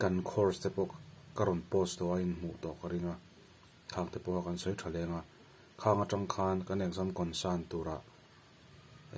Kan course te pawh ka rawn post tawh a, inhmuh tawh ka ring a, khang te pawha kan sawi tha leng a, khang atang khan kan exam concern turah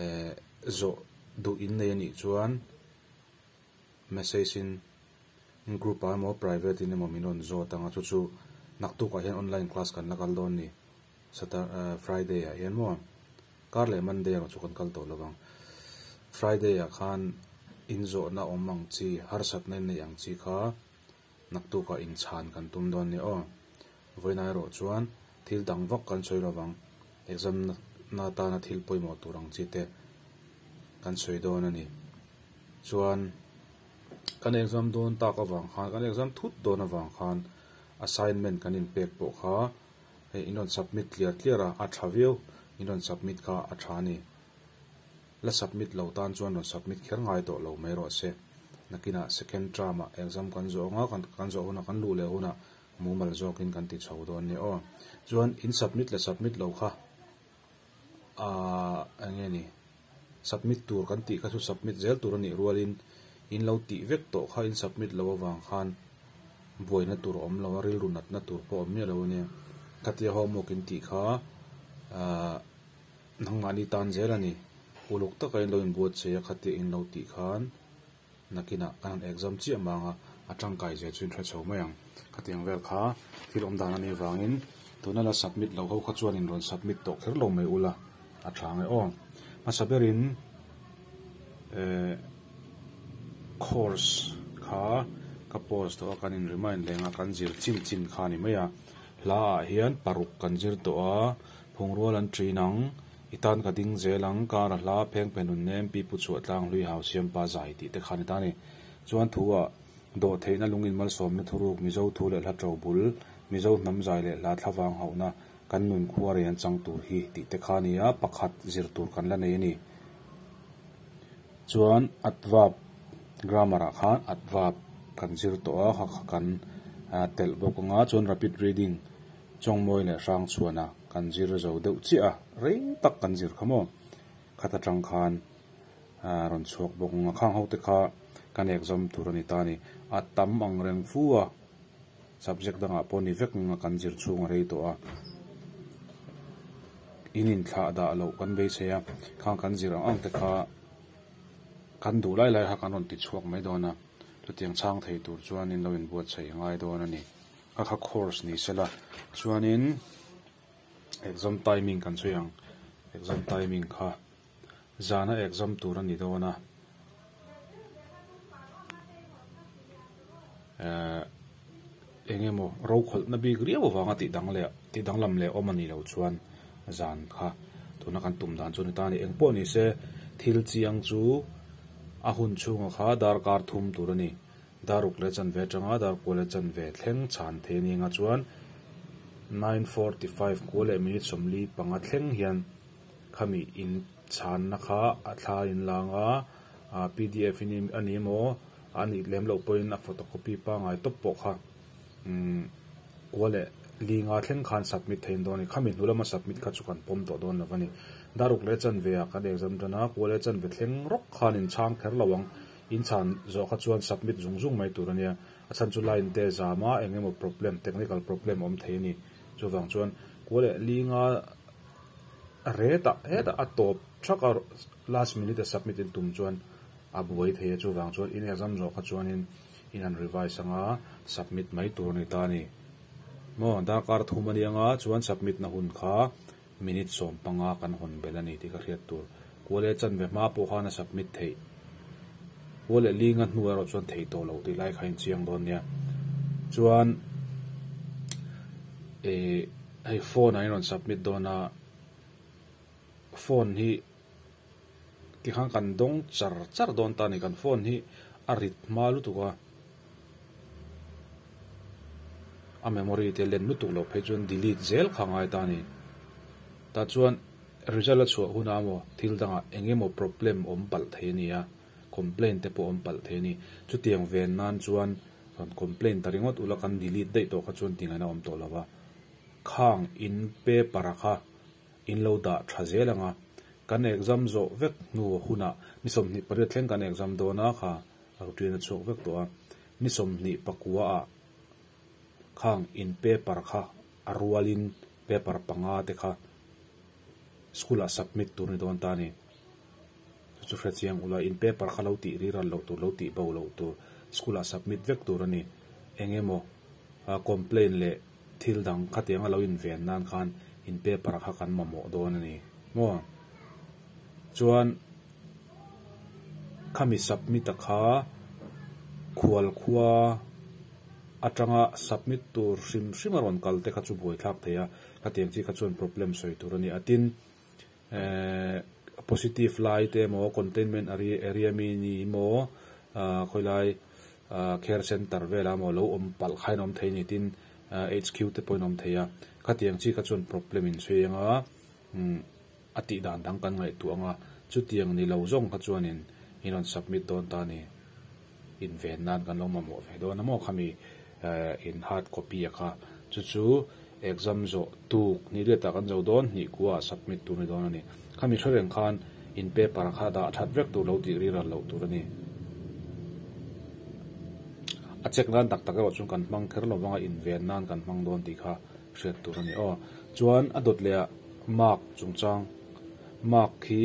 eh zawh duh in nei anih chuan message in group ah emaw private in emaw min rawn zawt ang a, chu chu naktukah hian online class kan la kal dawn a ni. Sata ah Friday ah hian maw? Kar leh Monday erawh chu kan kal tawh lovang. Friday ah khan inzawhna awm ang chi, harsatna in neih ang chi kha naktukah inchhan kan tum dawn nia aw. Vawiinah erawh chuan thil dang vak kan sawi lovang. Exam na atana thil pawimawh tur ang chi te kan sawi dawn a ni. Chuan kan exam dawn tak avang khan, kan exam thut dawn avang khan assignment kan inpek pawh kha Hei in rawn submit tliar tliar a, a tha viau, in rawn submit kha a tha a ni. La submit lo tan chuan rawn submit kher ngai tawh lo mai rawh se. Nakinah second term ah exam kan zawh anga kan kan zawh hunah kan luh leh hunah mumal zawkin kan ti chho dawn nia aw. Chuan in submit la submit lo kha. Ahh eng nge ni? Submit tur kan tih kha chu submit zel tur a nih rualin in lo tih vek tawh kha in submit lo avang khan buaina tur a awm lo a, rilru natna tur pawh awm miah lo a nia. Khatia homework in tih kha ahh nangmahni tan zel a ni. Uluk taka in lo inbuatsaih a khatia in lo tih khan. Nakinah kan han exam chiah mang a, a tangkai zel chu in hre chho mai ang. Khatiang vel kha thil awm dan anih avangin tuna la submit lo ho kha chuan in rawn submit tawh kher lo mai ula a tha ang e aw. Hmasa berin ehh course kha ka post tawh a kan in remind leng a kan zir chin chin kha a ni mai a. Hla ah hian paruk kan zir tawh a, Phungrual an ṭin ang, i tan ka ding zel ang, kar a hla, pheng pen hun nem, pi pu chhuah tlang hlui hau siam pa zai tih te khan i ta a ni. Chuan thu ah dawh theihna lung inmalsawmna thuruk Mizo thu leh hla ṭo bul, Mizo hnam zai leh hla thla vang hauhna kan nun khua rei an chang tur hi tih te kha nia pakhat zir tur kan la nei a ni. Chuan adverb grammar ah khan adverb kan zir tawh a, kha kha kan telh bawk ang a, chuan rapid reading Chawngmawi leh Hrangchhuana kan zir zo deuh chiah a, rei tak kan zir kha maw. Khat atang khan aa rawn chhuak bawk ang a, khang ho te kha ka nek zawm tur a ni ta ni. A tam ang reng fu a, subject dangah pawh ni vek ngang a kan zir chhung a rei tawh a. In inthlah dah loh kan beisei a, khang kan zir ang ang te kha kan duh lai lai kha kan rawn ti chhuak mai dawn a, chutiang chhang thei tur chuan in lo inbuatsaih ngai dawn a ni. Ka kha course ni se la chuanin exam timing kan sawi ang exam timing kha zana exam tur a ni dawn a ehh eng emaw rokhawlhna bik riau avanga tih dang leh tih danglam leh awm a nih loh chuan zan kha tuna kan tum dan chu a ni ta a ni eng pawh ni se thil chiang chu a hun chhunga kha darkar thum tur a ni. Daruk leh chanve atanga Darkua leh chanve thleng chhan thei anianga chuan nine forty five kua leh minute sawmli panga thleng hian khami in chhanna kha a thla a in lang a, aa pdf in a ni emaw a nih lem loh pawhin a photocopy pangai tawp pawh kha umm kua leh linga thleng khan submit thei in dawn a ni. Khami hnu lama submit kha chu kan pawm tawh dawn lo a ni. Daruk leh chanve ah kan exam atana kua leh chanve thleng rawk khan in chhang kher lo ang. In chhan zawh kha chuan submit zung zung mai tur a nia. A chhan chu line te zam a eng emaw problem, technical problem awm thei a ni. Chuvang chuan kual leh linga retah hetah a tawp thak a, last minute a submit in tum chuan a buai thei a. Chuvang chuan in exam zawh kha chuanin in han revise anga submit mai tur a ni ta a ni. Maw? Darkar a thum a nia nga chuan submit na hun kha Minute sawm panga kan hawn bel a ni tih ka hriat tur. Kua leh chanve hma pawh khan a submit theih. Kua leh linga hnu erawh chuan thei tawh lo tih lai kha in chiang dawn nia. Chuan eh hei phone ah in rawn submit dawn a, phone hi. Tikhan kan dawng char char dawn ta a ni. Kan phone hi a rit hma lutuk a, a memory te len lutuk loh phei chuan delete zel kha a ngai ta a ni. Tah chuan result a chhuah hunah emaw thil dangah eng emaw problem awm palh thei a ni a, complain te pawh awm palh thei a ni. Chutiang ven nan chuan rawn complain ta ringawt ula kan delete daih tawh kha chuan ti ngaihna awm tawh lo va, khang in paper a kha In lo dah tha zel ang a, kan exam zawh vek hnu hunah ni sawmhnih pariat thleng kan exam dawn a kha rak tui na chhuak vek tawh a, ni sawmhnih pakua ah khang in paper kha a rual in paper panga te kha school ah submit tur ni dawn ta a ni. Chu hre chiang ula in paper kha lo tih riral loh tur lo tih bo loh tur school ah submit vek tur a ni. Eng emaw a complain leh thil dang khatiang a lo in ven nan khan in paper ah kha kan mamawh dawn a ni maw. Chuan khami submit a kha Khualkhua atanga submit tur hrim hrim a rawn kal te kha chu buai thlak thei a khatiang chi kha chuan problem sawi tur a ni a tin. Ehh positive lai te emaw containment area mi ni emaw ahh khawilai ahh care centre velah emaw lo awm palh kha in awm thei a ni tin HQ te pawhin a awm thei a, khatiang chi kha chuan problem in sawi anga umm a tih dan dang kan ngaihtuah anga chutiang ni lo zawng kha chuanin in rawn submit dawn ta a ni. Inven nan kan lo mamawh ve dawn a maw kha mi in hard copy a kha chu chu exam zawh tuk ni let ah kan zo dawn hnih kua ah submit tur ni dawn a ni kha mi hre reng khan in paper a kha dah that vek tur lo tih rilral loh tur a ni a check nan tak tak erawh chuan kan hmang kher lo vang a inven nan kan hmang dawn tih kha hriat tur a ni aw chuan a dawt leh ah mark chungchang mark khi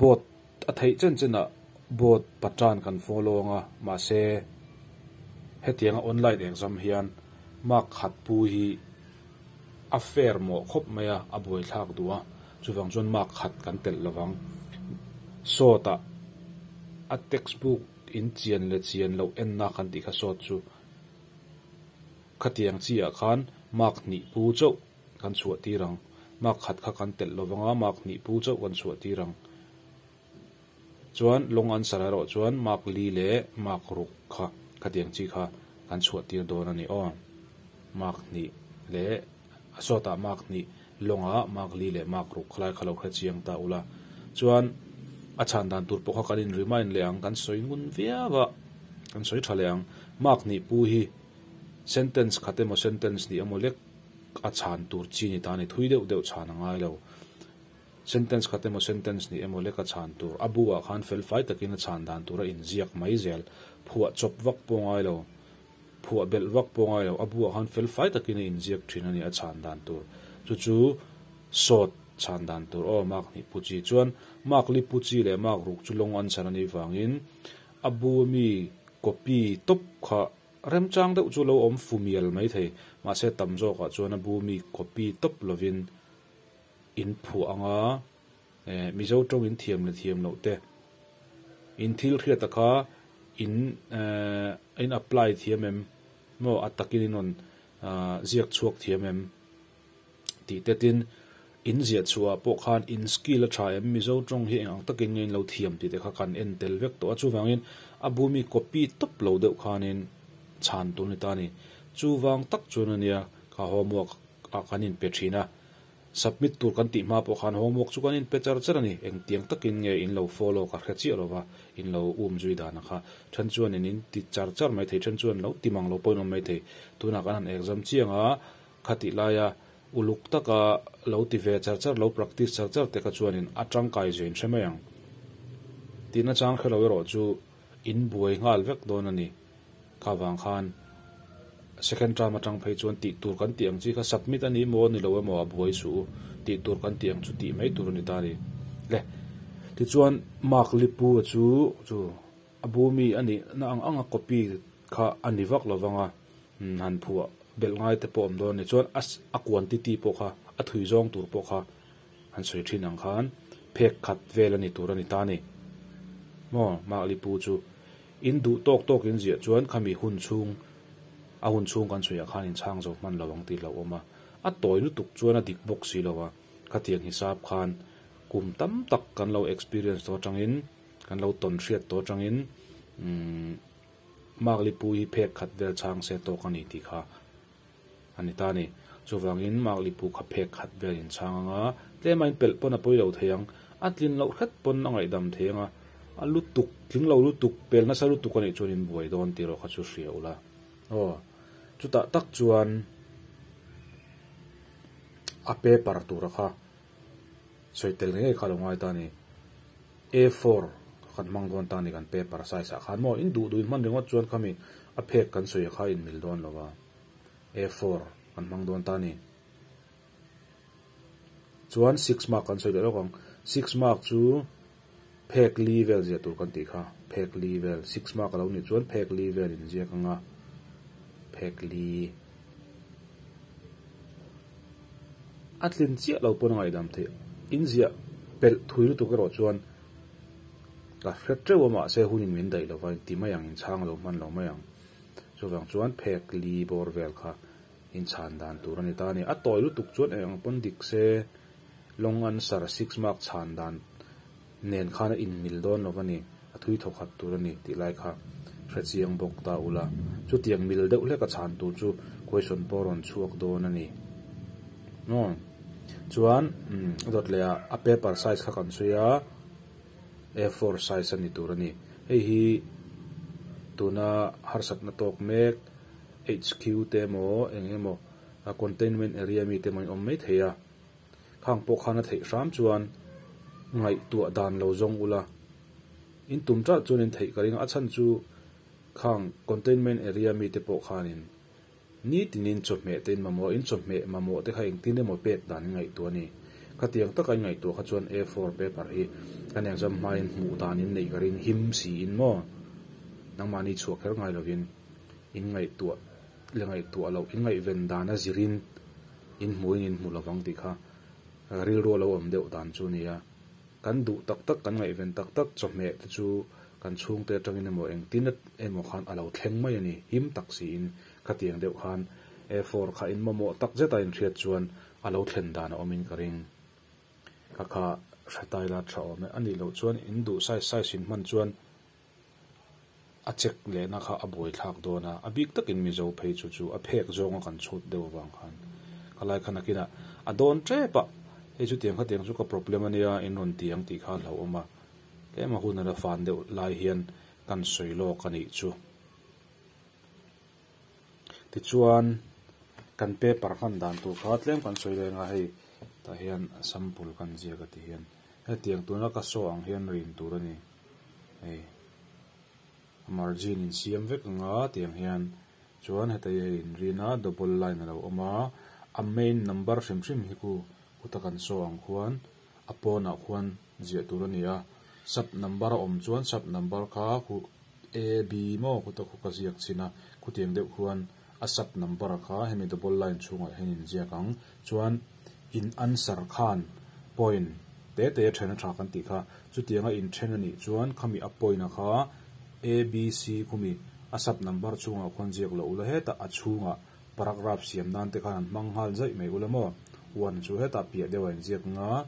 Boat a theih chen chenah boat patan kan follow ang a, mahse hetianga online exam hian mark khat pu hi a fair mawh khawp mai a, a buai thlak duh a, chuvang chuan mark khat kan telh lovang. Sawtah a textbook in chian leh chian loh enna kan tih kha sawt chu khatiang chiah khan mark hnih pu chauh Kan chhuah tir ang. Mark khat kha kan telh lo vang a, Mark hnih pu chauh kan chhuah tir ang. Chuan long answer ah erawh chuan Mark Lee leh Mark Ruk kha ka tiang chi kha kan chhuah tir dawn a ni aw. Mark hnih leh a sawtah Mark hnih long ah Mark Lee leh Mark Ruk khalai kha lo hre chiang ta ula. Chuan a chhan dan tur pawh kha kan in remind leh ang, kan sawi ngun viau a, kan sawi tha leh ang. Mark hnih pu hi sentence khat emaw sentence hnih emaw lek a chhan tur chi ni ta ni thui deuh deuh chhan a ngai lo. Sentence khat emaw sentence ni emaw lek a chhan tur a bu ah khan fel fai takin a chhan dan tur a in ziak mai zel. Phuah chawp vak pawh ngai lo, phuah belh vak pawh ngai lo, a bu ah khan fel fai takin a in ziak thin a ni a chhan dan tur chu chu sawt chhan dan tur aw Mark hnih pu chi chuan Mark li pu chi leh Mark ruk chu long answer a nih vangin a bu ami copy tawp kha Remchang deuh chu lo awm fumial mai thei. Mahse tam zawkah chuan a bu mi copy tawp lovin in phuah ang a, eh, Mizo tawngin thiam le thiam loh te, in thil hriata kha in, eh, in apply thiam em? Maw a takin in rawn, ah, ziak chhuak thiam em? Tih te tin, in ziah chhuah pawh khan in skill a tha em, Mizo tawng hi eng ang takin ngain lo thiam tih te kha kan en tel vek tawh a, chuvangin a bu mi copy tawp lo deuh khanin chhan tur ni ta ni. Chuvang tak chuan a nia, kha homework ah kan in pe thin a, submit tur kan tih hma pawh khan homework chu kan in pe char char a ni, engtiang takin nge in lo follow ka hre chiah lo va, in lo um zui dan ang kha, then chuan in in ti char char mai thei then chuan lo ti mang lo pawhin awm mai thei, tunah kan han exam chiang a, Khatih laia uluk taka lo ti ve char char lo, practice char char teka chuanin a tangkai zui nhrem mai ang. Tin achang hrelo erawh chu in buai nghal vek dawn a ni. Kha vang khan second term atang phei chuan tih tur kan tih ang chi kha submit a nih maw ni lo emaw a buai suh u tih tur kan tih ang chu tih mai tur a ni ta ni. Le tichuan Mark Lipua chu chu a bu mi a nihna ang anga copy kha a ni vak lo vang a. han phuah belh ngai te pawh awm dawn a ni chuan a quantity pawh kha a thui zawng tur pawh kha han sawi thin ang khan phek khat vel a ni tur a ni ta ni maw Mark Li Pu chu in duh tawk tawk in ziah chuan khami hun chhung a hun chhung kan sawi ah khan in chhang zo hman lo ang tih lo awm a a tawi lutuk chuan a dik bawk si lo a khatiang hisap khan kum tam tak kan lo experience tawh atang in kan lo tawn hriat tawh atang in umm. Mark Lipu hi phek khat vel chhang se tawk a ni tih kha a ni ta a ni. Chuvangin Mark Lipu kha phek khat vel in chhang anga tlema in pelh pawn a pawi lo thei ang, a tlin loh hret pawn a ngaihdam thei anga a lutuk, tling lo lutuk, pel nasa lutuk a nih chuan in buai dawn tih erawh kha chu hria ula. Aw, chutah tak chuan a pe par tura kha Sawi tel ngei ngei kha a lo ngai ta a ni. A four kha kan hmang dawn ta a ni kan paper size ah khan maw in duh duhin hman ringawt chuan khami a phek kan sawi kha in mil dawn lo va. A four kan hmang dawn ta a ni. Chuan six mark kan sawi leh lawk ang. Six mark chu. Phek li vel ziah tur kan tih kha, phek li vel, six mark a lo nih chuan phek li vel in ziak ang a, phek li. A tlin chiah lo pawn a ngaidam theih. In ziah pelh thui lutuk erawh chuan ka hre teuh a mahse hun in min daih lo va, in ti mai ang, in chhang lo hman lo mai ang. Chuvang chuan phek li bawr vel kha in chhan dan tur a ni ta a ni. A tawi lutuk chuan eng ang pawn dik se. Long answer, six mark chhan dan nen khan a inmil dawn lo va ni, a thui thaw khat tur a ni tih lai kha hrechiang bawk ta u la, chutiang mil deuh hlek a chhan tur chu question pawh rawn chhuak dawn a ni ngaw. Chuan a dawt leh ah a paper size kha kan sawi a, a four size a ni tur a ni. Hei hi tuna harsat na tawk mek HQ te emaw eng emaw containment area mi te emaw in awm mai thei a. Khang pawh khan a theih hram chuan ngaihtuah dan lo zawng ula, in tum tah chuan in theih ka ring a, a chhan chu Khang containment area mite pawh khanin nitin in chawhmeh te in mamawh a, in chawhmeh mamawh te kha engtin emaw pek dan in ngaihtuah a ni. Khatiang taka in ngaihtuah kha chuan A four paper hi kan exam hmain hmuh dan in neih ka ring him si in maw? Nangmahni chhuah kher ngai lovin in ngaihtuah. le ngaihtuah loh ingaihven dan a zirin inhmuin inhmu lovang tih kha rilru lo awm deuh dan chu a ni a. Kan duh tak tak, kan ngaihven tak tak chawhmeh te chu kan chhungte atangin emaw engtin emaw khan a lo thleng mai a ni. Him tak siin khatiang deuh khan A4 kha in mamawh tak zeta inhriat chuan a lo thlen dan a awmin ka ring. Ka kha hre taila tha awm e. A nih loh chuan in duh size size in hman chuan A check lehna kha a buai thlak dawn a, a bik takin Mizo phei chu chu a phek zawnga kan chhut deuh avang khan ka lai khan akina a dawn tep a, hei chu tiang kha tiang chu ka problem a nia in rawn ti ang tih kha a hlauhawm a, tlem a hun a la fan deuh lai hian kan sawi lawk a nih chu. Tichuan kan paper hman dan tur kha tlem kan sawi leng a, hei tah hian sample kan ziak a ti hian. Hetiang tuna ka saw ang hian rin tur a ni. Hei a margin in siam vek anga tiang hian chuan hetaia hei in rin a double line a lo awm a, a main number hrim hrim hi ku kuta kan saw ang khuan a pawnah khuan ziah tur a ni a, sub number a awm chuan sub number kha khu A, B maw kuta khu ka ziak chhin a, khutiang deuh khuan. A sub number kha hemi double line chhungah hian in ziak ang chuan in answer khan point te te a then a tha kan tih kha. Chutiang a in then a nih chuan khami a point a kha abc khumi a sub number chhungah khawn ziak loh u la heta a chhungah paragraph siam nan te khan an hmang nghal zaih mai u la maw one chu heta piah deuh a in ziak anga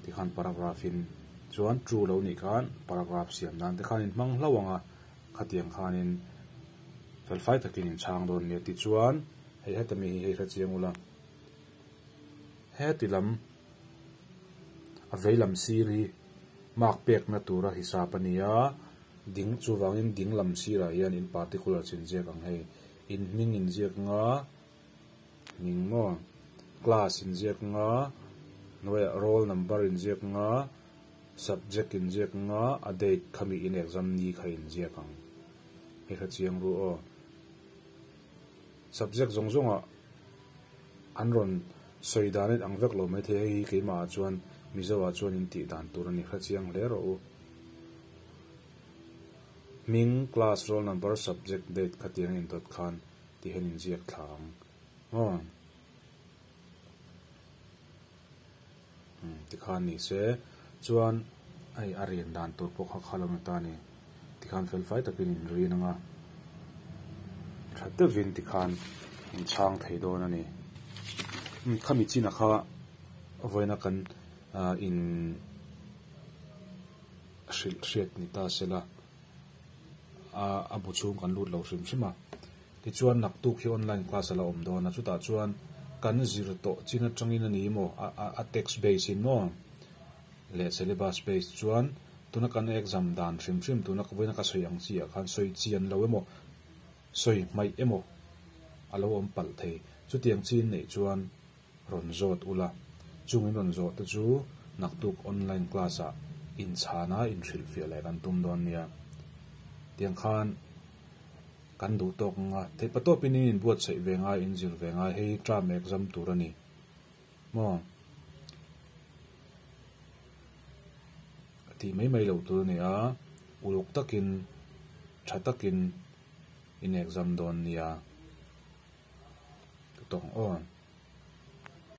ti khan paragraph in chuan true lo nih khan paragraph siam nan te khan in hmang hlauh ang a khatiang khanin felfai takin in chhang dawn nia tichuan hei heta mi hi hei kha chiang ula heti lam a veilam sir hi mark pekna tura hisap a nia ding chuvangin dinglam sirah hian in particular chinziak ang hei in hming inziak nga Ning maw? Class inziak nga, hnuaiah roll number inziak nga, subject inziak nga, a date kha miin exam ni kha inziak ang. Hei kha chiang ru aw. Subject zawng zawngah an rawn sawi dan let ang vek lo mai thei a, hei hi keimahah chuan Mizoah chuan intih dan tur a ni, hre chiang hle rawh u. Hming, class, roll number, subject, date kha tiang a indawt khan Tihian inziak thla ang ngawng tikhan ni se, chuan hei a rian dan tur pawh kha kha lo ni ta ni tikhan felfai takin in rin anga tha deuhin tikhan in chhang thei dawn a ni. Khami chinah kha vawiina kan in hrilh hriat ni ta se la. a a bu chhung kan lut lo hrim hrim a, tichuan naktuk hi online class ala awm dawn a, chutah chuan kan zir tawh chin atangin a ni maw, a a text base in maw leh syllabus base chuan tuna kan exam dan hrim hrim tuna ka vawiin ka sawi ang chi ah khan sawi chian lo emaw, sawi hmaih emaw alo awm palh thei, chutiang chin neih chuan. rawn zawt ula, chungin rawn zawh te chu naktuk online class ah inchhana inhrilh fiah leh kan tum dawn nia. Tiang khan kan duh tawk nanga theipa tawpin in inbuatsaih ve ngai in zir ve ngai hei hi term exam tur a ni maw a tih mai mai lo tur a ni a uluk takin tha takin in exam dawn nia ka tawng aw.